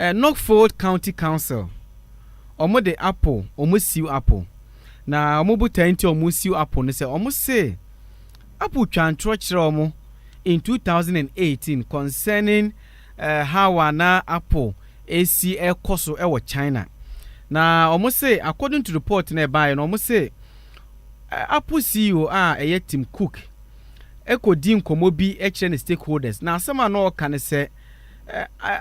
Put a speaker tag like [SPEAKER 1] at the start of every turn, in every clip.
[SPEAKER 1] Eh, Norfolk County Council, wɔn de apple, wɔn siw apple. Na wɔn botae nti a wɔn siw apple no sɛ wɔn se apple twa ntorɔ kyerɛ wɔn in 2018 concerning eh, how a na apple esi ɛkɔ so ɛwɔ China. Na wɔn se according to report na ɛbaeɛ no wɔn se eh, apple CEO a ɛyɛ Tim Cook kɔdi nkɔmmɔ bi kyerɛ ne stakeholders na asɛm a na ɔreka ne sɛ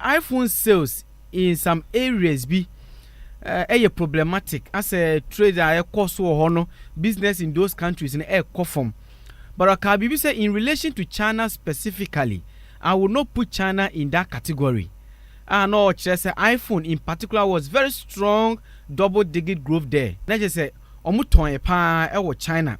[SPEAKER 1] iPhone sales in some areas bi ɛyɛ problematic asɛ trade a ɛkɔ so wɔ hɔ no business in those countries no ɛkɔ fam but ɔkaa biribi sɛ in relation to China specifically I would not put China in that category a na ɔkyerɛ sɛ iPhone in particular was very strong double digit growth there na kyerɛ sɛ wɔn tɔn yɛ paa ɛwɔ China.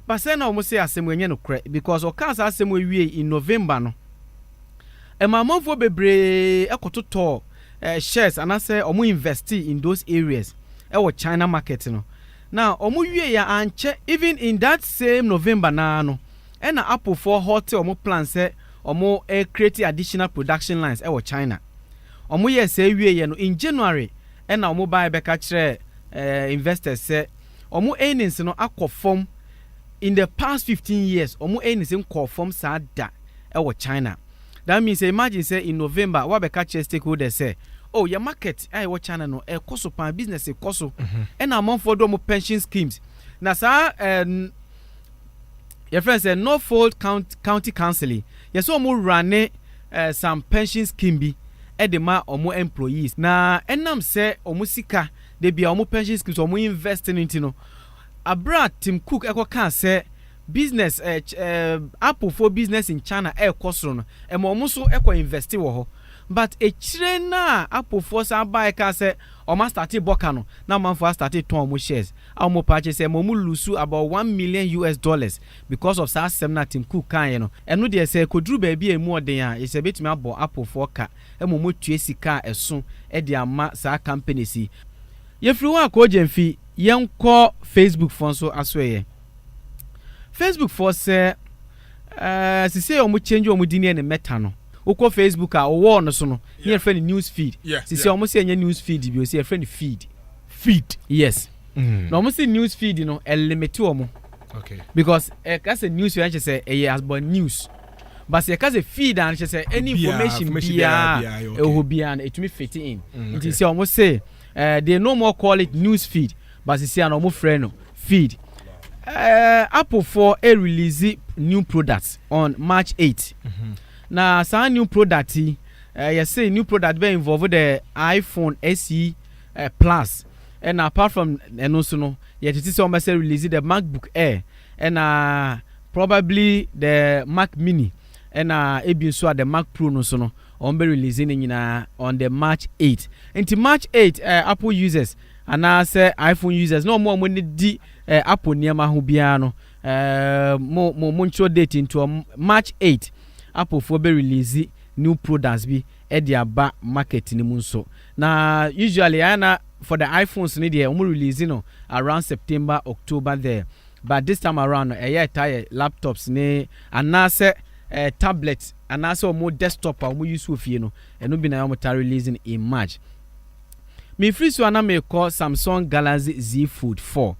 [SPEAKER 1] But sɛ na ɔmo se asɛm wei nyɛ nokorɛ because ɔkaa saa asɛm wei wiei in November no, ɛmaa amanfoɔ bebree kɔtotɔɔ shares anaasɛ ɔmo investee in those areas wɔ China market no. Na ɔmo wiei a ankyɛ even in that same November no ara no ɛna Apple foɔ haltee ɔmo plan sɛ ɔmo recreate additional production lines wɔ China. Ɔmo yɛɛ saa wieeɛ no in January ɛna ɔmo baeɛ bɛka kyerɛɛ investors sɛ wɔn earnings no akɔ fam in the past fifteen years, wɔn earnings nkɔɔ fam saa da wɔ China. That means sɛ imagine sɛ in November woabɛka kyerɛ stakeholders sɛ, oh yɛn market a ɛwɔ China no ɛkɔ so paa, business kɔ so, ɛna amanfoɔ de wɔn pension schemes. Na saa eh, n- yɛfrɛ no sɛ Norfolk Count- County Council yi, yɛsɛ wɔn rane eh, some pension scheme bi de ma wɔn employees. Na ɛnam sɛ wɔn sika da biara wɔn pension schemes a wɔn invest no nti no abere a Tim Cook ɛkɔ kaa sɛ business ɛɛ eh, ɛɛ eh, Apple foɔ business in China ɛɛkɔ soro no ɛma wɔn nso ɛkɔ invest wɔ hɔ but ekyire na Apple foɔ san baa ɛkaa sɛ wɔn astate bɔ ka no na amanfoɔ astate tɔn wɔn shares a wɔn paa kyɛ sɛ ɛma wɔn lusu about one million US dollars because of saa asɛm na Tim Cook kaa yɛ no ɛno deɛ sɛ koduru baabi a emu ɔden a yɛ sɛ ebetumi abɔ Apple foɔ ka Mmom motua sika a ɛso de ama saa companies yi. Yɛfiri hɔ a koogyɛmfi yɛnkɔ Facebook foɔ nso asoɛeɛ. Facebook foɔ sɛ ɛɛ sisei wɔn change wɔn din yɛ ne Meta no. Wokɔ Facebook a wo wall no so no ne yɛfrɛ no news feed. Sisei wɔn sɛ ɛnyɛ news feed bio sɛ yɛfrɛ no feed. Feed. Yes. Na wɔn sɛ news feed no ɛlimite wɔn. Okay.
[SPEAKER 2] Because ɛka
[SPEAKER 1] sɛ news feed ɛnkyɛ sɛ ɛyɛ about news. But sɛ yɛka sɛ feed a no kyerɛ sɛ any information biara ɛwɔ hɔ biara no ɛtumi fit in mm, nti sɛ ɔmo se uh, they no more call it news feed but sisi a na ɔmo frɛ no feed uh, apple for a release new product on march 8 mm -hmm. na saa new product yi uh, yɛse new product bɛ involve the iphone se uh, plus ɛna apart from ɛno nso no yɛtete sɛ ɔmɛsɛ release the macbook air Ɛna probably the Mac Mini ɛna ebi nso a the Mac Pro no nso no wɔn bɛ release ne nyinaa on the March 8. Nti March 8 eh, Apple users anaasɛ iPhone users na wɔn a wɔn di eh, Apple nneɛma ho biara no eh, mo mo mo ntwerɛ date ntoɔ March 8 Applefoɔ bɛ release new products bi ɛde aba market no mu nso na usually ayɛ na for the iphones no deɛ wɔn release no around September October there but this time around no ɛyɛ ɛtaa yɛ laptops ne anaasɛ eh, tablet anaasɛ wɔn desktop a wɔn use wɔ fie no ɛno bi na wɔn taa release no in March mefiri so a na mekɔ Samsung Galaxy Z Fold 4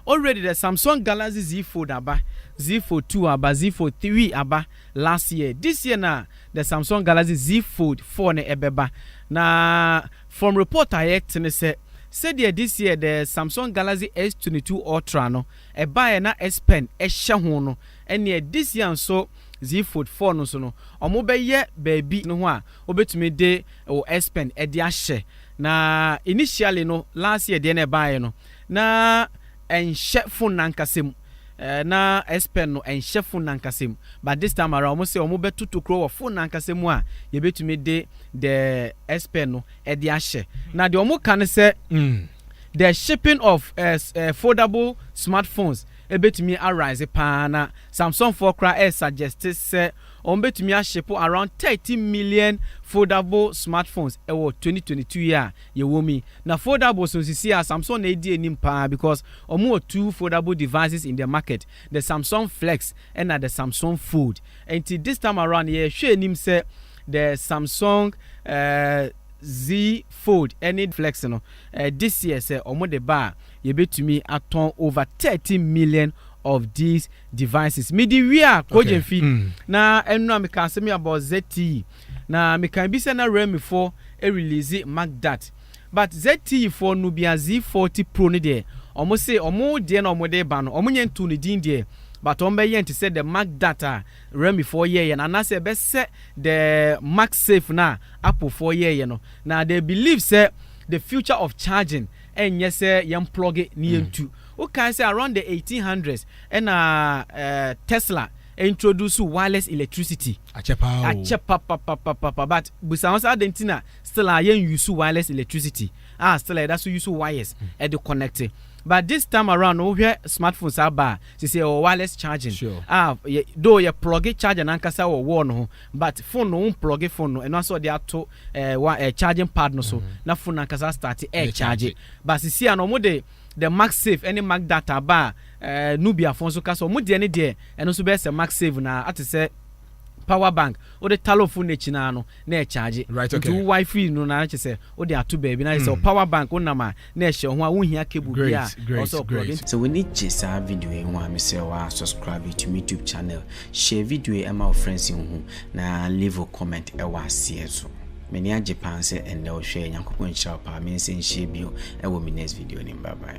[SPEAKER 1] already the Samsung Galaxy Z Fold aba Z Fold 2 aba Z Fold 3 aba Last year this year na the Samsung Galaxy Z Fold four no ɛbɛba na from report a yɛte ne sɛ sɛdeɛ this year the Samsung Galaxy S twenty two Ultra no ɛbaeɛ na S Pen ɛhyɛ ho no ɛneɛ this year nso Z Fold four no nso no ɔmo bɛyɛ baabi no ho a wobɛtumi de wo S Pen de ahyɛ na initially no last year deɛ na ɛbaeɛ no na ɛnhyɛ phone no ankasa mu. Eh, na SPEN no ɛnhyɛ fon nankasa mu, but this time around wɔn sɛ wɔn bɛ to tokuro wɔ fon nankasa mu a yɛbɛtumi de the SPEN no ɛde ahyɛ. Na deɛ wɔn ka no sɛ mm, the shipping of eh, eh, foldable smartphones ɛbɛtumi arise paa na Samsung foɔ koraa ɛyɛ suggest sɛ wɔn bɛtumi ahyepo around 30 million foldable smartphones ɛwɔ 2022 yi a yɛwom yi. Na foldables no sisi a Samsung na edi anim paa because ɔmo wɔ two foldable devices in the market, the Samsung Flex ɛna the Samsung Fold. Ɛnti this time around yɛhwɛ anim sɛ the Samsung Z Fold ɛne Flex no this year sɛ ɔmo de ba a yɛbɛtumi atɔn over thirty million of these devices. Mede wie a Kogye Mfi na ɛno a mekaa asɛm yi about ZTE. Na mekan bi sɛ na realme foɔ release mark that but ZTE foɔ no bia Z forty pro no deɛ ɔmo se ɔmo deɛ na ɔmo de ba no ɔmo nyɛ ntoo ne din deɛ but ɔmo bɛyɛ no te sɛ the mark that a realme foɔ yɛɛyɛ no anaasɛ ɛbɛsɛ the mark safe no a apple foɔ yɛɛyɛ no na they believe sɛ the future of charging ɛnyɛ sɛ yɛn plug ne yɛn tu wo kan sɛ around the eighteen hundreds ɛna eh, tesla introduce wireless electricity. Akyɛ paa o. Akyɛ papapapapa but bisa ho sɛ adɛn nti na still a yɛn use wireless electricity a still a yɛda so use wires ɛde connect but this time around no wohwɛ smartphone saa ba a sisi ɛwɔ wireless charging Sure. a yɛ though yɛ plugge charger n'ankasa wɔ wall no ho but phone no wɔn plugge phone no ɛno asɛ ɔde ato ɛɛ wa ɛɛ charging pad no so na phone n'ankasa start ɛɛ charge but sisi a no wɔn de the MagSafe ne MagData aba a, eh, Nubiafoɔ nso ka sɛ wɔn deɛ ne deɛ, ɛno nso bɛyɛ sɛ MagSave no ara, ate sɛ power bank, wode talo fo no akyi no ara no, na ɛkyagye. Right, okay. Nti wo Wi-Fi
[SPEAKER 2] no na kyerɛ
[SPEAKER 1] sɛ wode ato baabi, na kyerɛ sɛ wo power bank wonam a, na ɛhyɛ wo ho a wonhia cable Great, biara a ɛwɔ sɛ great, ɔplug in. great. Sɛ w'ani gye saa
[SPEAKER 3] video yi ho a, mesrɛ wo ara subscribe to me tube channel, share video yi ma wo friends nhu, na leave wo comment wɔ aseɛ nso. M'ani agye paa sɛ ɛnnɛ wohwɛɛ, Nyankopɔn nhyira wo paa, me nsa nhyia bio wɔ me next video no mu, bye bye.